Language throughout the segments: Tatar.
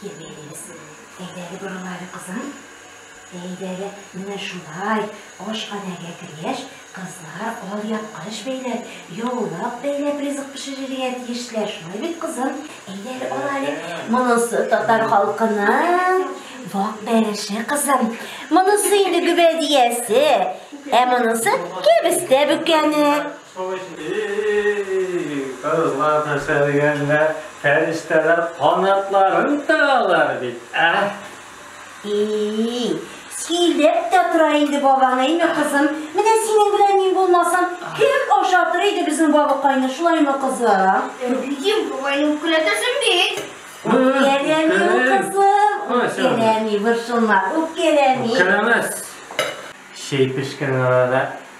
Килгәнегез, әйдә әле борыла әле, кызым. Әйдә әле, менә шулай, ашханәгә кергәч, кызлар алъяпкыч бәйләп, яулык бәйләп ризык пешерергә тиешләр, шулай бит, кызым? Әйдә әле, ала әле. Монысы татар халкының вак бәреше, кызым. Монысы инде гөбәдиясе, ә монысы кәбестә бөкәне. И-и-и-и-и-и, кызлар нәрсә дигәннәр, фәрештәләр канатларын тагалар бит, ә? И-и-и, сөйләп тә тора инде бабаң, әйме, кызым? Менә синең белән мин булмасам, кем ашатыр иде безнең бабыкайны, шулаймы, кызым? Әбидем, бабайны үпкәләтәсең бит. Үпкәләми, кызым, үпкәләми, борчылма, үпкәләми. Үпкәләмәс. Чәй пешкән арада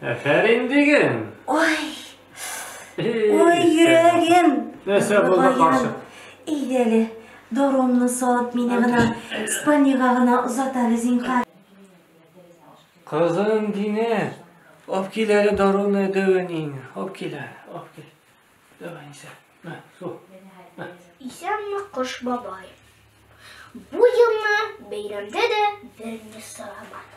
Әфәрин диген! Ой! Ой, йөрәгем! Нәрсә булды, каршы? Идәле, доромны салып мине гына Испаниягә гына озат әле, зинхар. Кызым Динә, алып кил әле даруны дәвәнин. Алып кил әле, алып кил. Давай, Ниса. Мә, су. Исәнме, Кош бабай. Бу елны бәйрәмдә дә берни сорамады.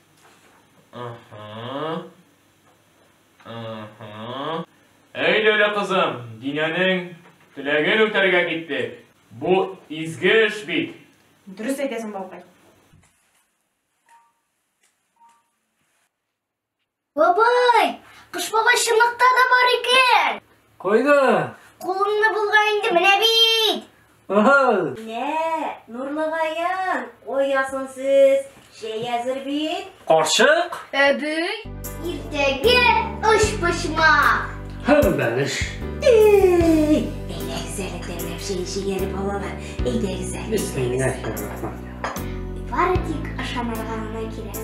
Әй дәүлә кызым, Динәнең теләген үтәргә киттек. Бу изге эш бит. Дөрес әйтәсең, балкай. Бабай, кыш бабай чынлыкта да бар икән. Кайда? Кулыңны булга инде менә бит. Ага. Менә, Нурлыгаян, оясын сез. Чәй әзер бит. Карчык? Әби. Иртәгә оч почмак. Һәм бәлеш. Әйдәгез әле тәмләп чәй эчегәле балалар. Әйдәгез әле. Бисмиллахи рахман. Бары тик ашанырга гына кирәк.